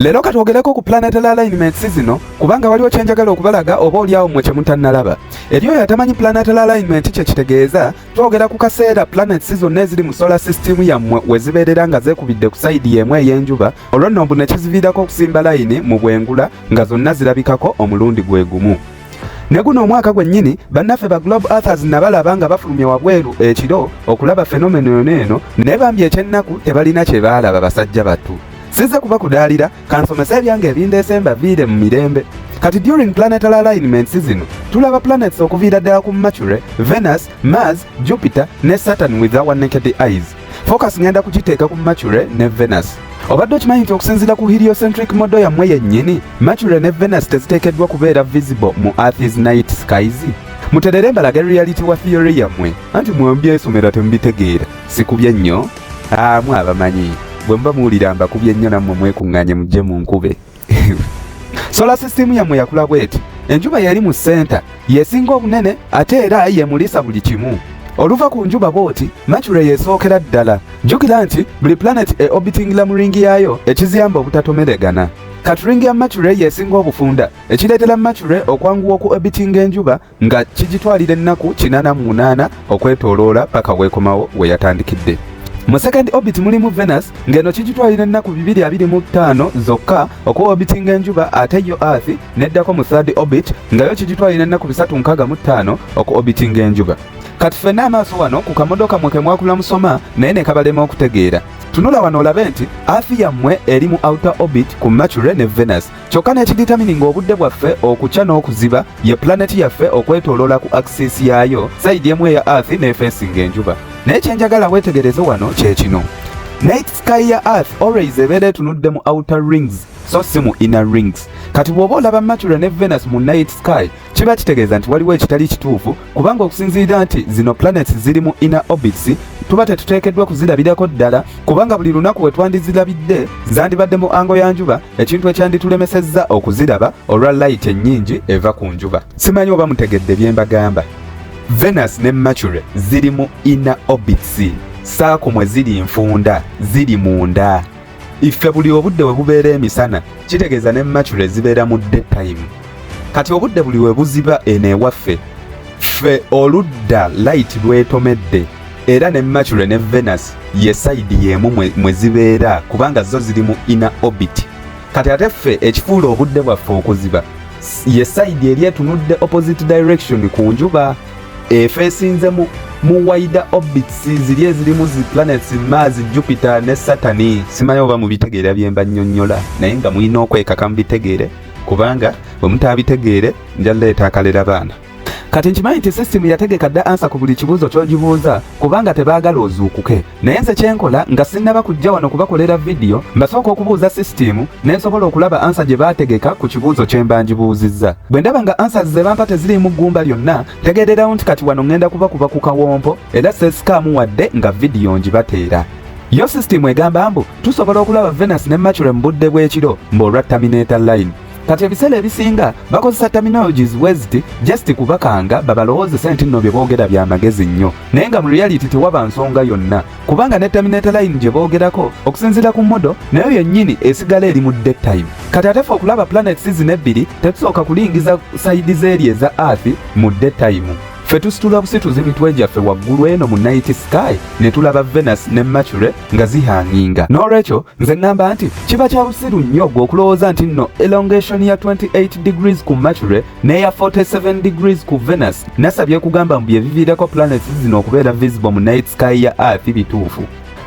Leero katwogereko ku planetary alignments zino kubanga waliwo kyenjagala okubalaga oba olyawo mwe kyemutannalaba. Eri oyo atamanyi planetary alignment kye kitegeeza, twogera ku kaseera planets zonna eziri mu solar system yammwe we zibeerera nga zeekubidde ku sayidi y'emu ey'enjuba, olwo nno mbu ne kiziviirako okusimba layini mu bwengula nga zonna zirabikako omulundi gwe gumu. ne guno omwaka gwennyini bannaffe ba globe authors nabalaba nga bafulumye wabweru ekiro okulaba fenomeno yona eno naye bambi ekyennaku tebalina kye baalaba basajja battu Sizze kuba kudaalira kansomesa ebyange ebindeese mbaviire mu mirembe kati during planetary alignments zino tulaba planets okuviira ddala ku mercury venus mars jupiter ne saturn with our naked eyes focus ngenda kukiteeka ku mercury ne venus obadde okimanyi nti okusinziira ku heliocentric modo yammwe yennyini mercury ne venus teziteekeddwa kubeera visible mu earth's night skies muterere embalage reality wa theory yammwe anti mwembyesomera temubitegeera sikubye nnyo Ah, mwe abamanyi bwe muba muwulira mbakubye nnyo nammwe mwekuŋŋaanye mujje mu nkube sola sisitimu yammwe yakula bweti enjuba yali mu senta yesinga obunene ate era yemulisa buli kimu oluva ku njuba bwoti mature yesookera ddala jjukira nti buli planeti e obitingila mu ringi yaayo ekiziyamba obutatomeregana katuringi ya mature yesinga obufunda ekireetera mature okwanguwa oku obitinga enjuba nga kigitwalira ennaku kinaana mu munaana okwetooloola paka weekomawo we yatandikidde mu second orbit mulimu venus ng'eno kigitwalira ennaku 225 zokka okuwa orbitinga enjuba ate yo earth neddako mu third orbit nga yo kigitwalira ennaku 365 oku orbitinga enjuba kati ffenna amaaso wano ku kamodoka mwe kemwakula musoma naye ne kabalema okutegeera tunula wano olabe nti earth yammwe eri mu outer orbit ku mercury ne venus kyokka n'ekiditamini ng'obudde bwaffe okukya n'okuziba ye pulaneti yaffe okwetoloola ku akisisi yaayo sayidi emu eya earth n'efeesinga enjuba naye kye njagala weetegereze wano kye kino night sky ya earth always ebeera etunudde mu outer rings so si mu inner rings kati bw'oba olaba mercury ne venus mu night sky kiba kitegeeza nti waliwo ekitali kituufu kubanga okusinziira nti zino planets ziri mu inner orbits tuba tetuteekeddwa kuzirabirako ddala kubanga buli lunaku we twandizirabidde zandibadde mu ango ya njuba ekintu ekyanditulemesezza okuziraba olwa layiti ennyingi eva ku njuba simanyi oba mutegedde bye mbagamba venus ne mercury ziri mu inner orbits saako mwe ziri nfunda ziri munda iffe buli obudde we bubeera emisana kitegeeza ne mature zibeera mu daytime kati obudde buli we buziba eno ewaffe ffe oludda light lwetomedde era ne mature ne venus ye sayidi y'emu mwe zibeera kubanga zo ziri mu ina orbit kati ate ffe ekifuula obudde bwaffe okuziba ye sayidi eri etunudde opposite direction ku njuba efo esinze mu mu wider orbits ziri ezirimu zi planets mars jupiter ne satani simanyi oba mubitegeera byemba nnyonnyola naye nga mulina okwekaka mubitegeere kubanga bwe mutaabitegeere nja leeta akalera baana kati nkimanyi nti system yategeka dda ansa ku buli kibuuzo ky'ogibuuza kubanga tebaagala ozuukuke naye nze kyenkola nga sinnaba kujja wano kubakolera vidiyo mbasooka okubuuza sisitiimu ne nsobola okulaba ansa gye baategeka ku kibuuzo kye mba ngibuuzizza bwe ndaba nga ansa ze bampa teziriimu ggumba lyonna tegeererawo nti kati wano ŋŋenda kubakuba ku kawompo era seesikaamu wadde nga vidiyo ngibateera yo sisitiimu egamba mbu tusobola okulaba venus ne mature mu budde bw'ekiro mbu olwa terminator line kati ebiseera ebisinga bakozesa terminologies weziti just kubakanga babalowoozese nti nno bye boogera bya magezi nnyo naye nga mu reality tewaba nsonga yonna kubanga ne terminator line gye boogerako okusinziira ku modo nayo yennyini esigala eri mu day time kati ate fe okulaba planet season ebbiri tetusooka kulingiza sayidi zeeri eza earth mu day time fe tusitula busituzi mitwe gyaffe waggulu eno mu night sky ne tulaba venus ne mercury nga zihanginga n'olwekyo nze ŋŋamba nti kiba kya busiru nnyo gwe okulowooza nti nno elongation ya 28 degrees ku mercury n'eya 47 degrees ku venus nasa byekugamba mu byebiviirako planets zino okubeera visible mu night sky ya earth bituufu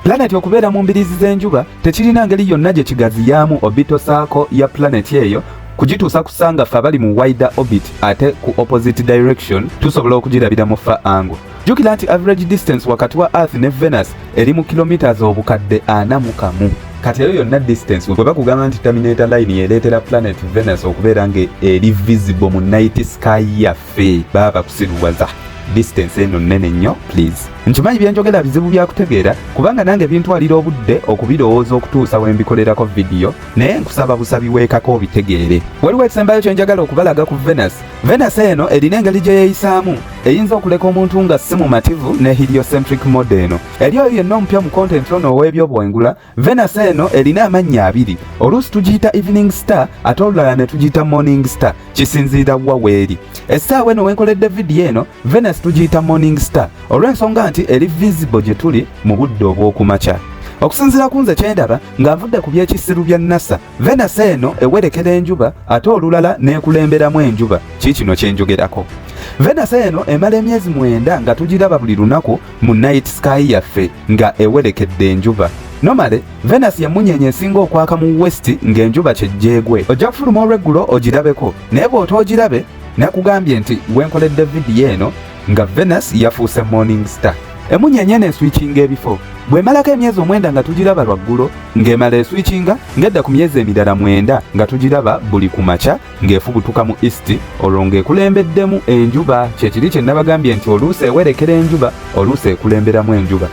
planeti okubeera mu mbiriizi z'enjuba tekirina ngeri yonna gye kigaziyaamu obito saako ya planeti eyo kugituusa kusanga ffe abali mu wider orbit ate ku opposite direction tusobola okugirabira mu fa ango jjukira nti average distance wakati wa earth ne venus eri mu kilometres obukadde ana mu kamu kati eyo yonna distance bwe bakugamba nti terminator line yereetera planet venus okubeera nga eri visible mu night sky yaffe baba bakusiruwaza distance eno nnene nnyo please nkimanyi byenjogera bizibu byakutegeera kubanga nange bintwalira obudde okubirowooza okutuusa we mbikolerako vidiyo naye nkusaba busabi weekako obitegeere waliwo ekisembayo kye njagala okubalaga ku venus Venasi eno erina engeri gye yeeyisaamu eyinza okuleka omuntu nga si mumativu ne heliocentric mode eno. Eri oyo yenna omupya mu kontenti ono ow'ebyobwengula, Venasi eno erina amannya abiri. Oluusi tugiyita evening star ate olulala ne tugiyita morning star, kisinziira wa weeri. Essaawa eno wenkoledde vidiyo eno, Venasi tugiyita morning star olw'ensonga nti eri visible gye tuli mu budde obw'okumakya. Okusinziira ku nze kyendaba ng'avudde ku by'ekisiru bya NASA Venus eno ewerekera enjuba ate olulala n'ekulemberamu enjuba kiikino kye njogerako. Venus eno emala emyezi mwenda nga tugiraba buli lunaku mu night sky yaffe nga ewerekedde enjuba. Nomale, Venus y'emmunyeenye esinga okwaka mu west ng'enjuba kye gyegwe. Ojja kufuluma olw'eggulo ogirabeko naye bw'otoogirabe nakugambye nti gwe nkoledde vidiyo eno nga Venus yafuuse morning star emunyenye neswikinga ebifo bwemalako emyezi omwenda nga tugiraba lwaggulo ng'emala eswikinga ng'edda ku myezi emirala mwenda nga tugiraba buli ku makya ng'efubutuka mu east olwo ng'ekulembeddemu enjuba kyekiri kye nabagambye nti oluusi ewerekera enjuba oluusi ekulemberamu enjuba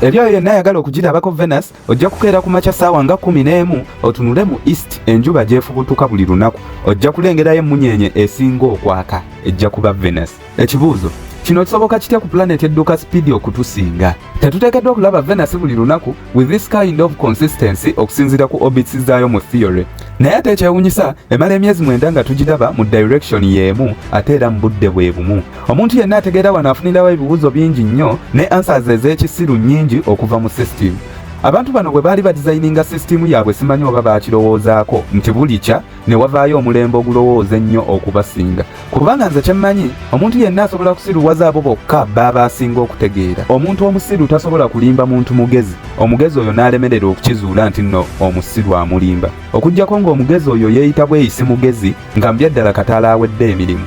eri oyo yenna ayagala okugirabako venus Ojja kukeera ku makya ssaawa nga kkumi n'emu otunule mu east enjuba gyefubutuka buli lunaku ojja kulengerayo emmunyeenye esinga okwaka ejja kuba venus ekibuuzo kino kisoboka kitya ku planet edduka sipiidi okutusinga tetuteekeddwa okulaba venus buli lunaku with this kind of consistency okusinziira ku orbits zaayo mu theory naye ate ekyewunyisa emala emyezi mwenda nga tugiraba mu direction y'emu ate era mu budde bwe bumu Omuntu yenna ategeera wano afunirawo ebibuuzo bingi nnyo ne answers ez'ekisiru nnyingi okuva mu system. Abantu bano bwe baali badizayininga sisitiimu yaabwe simanyi oba baakirowoozaako nti bulikya ne wavaayo omulembe ogulowooza ennyo okubasinga kubanga nze kyemmanyi omuntu yenna asobola okusiruwaza abo bokka baaba asinga okutegeera omuntu omusiru tasobola kulimba muntu mugezi omugezi oyo n'alemerera okukizuula nti nno omusiru amulimba okugyako ng'omugezi oyo yeeyita bweyisi mugezi nga mu byaddala kataala awedde emirimu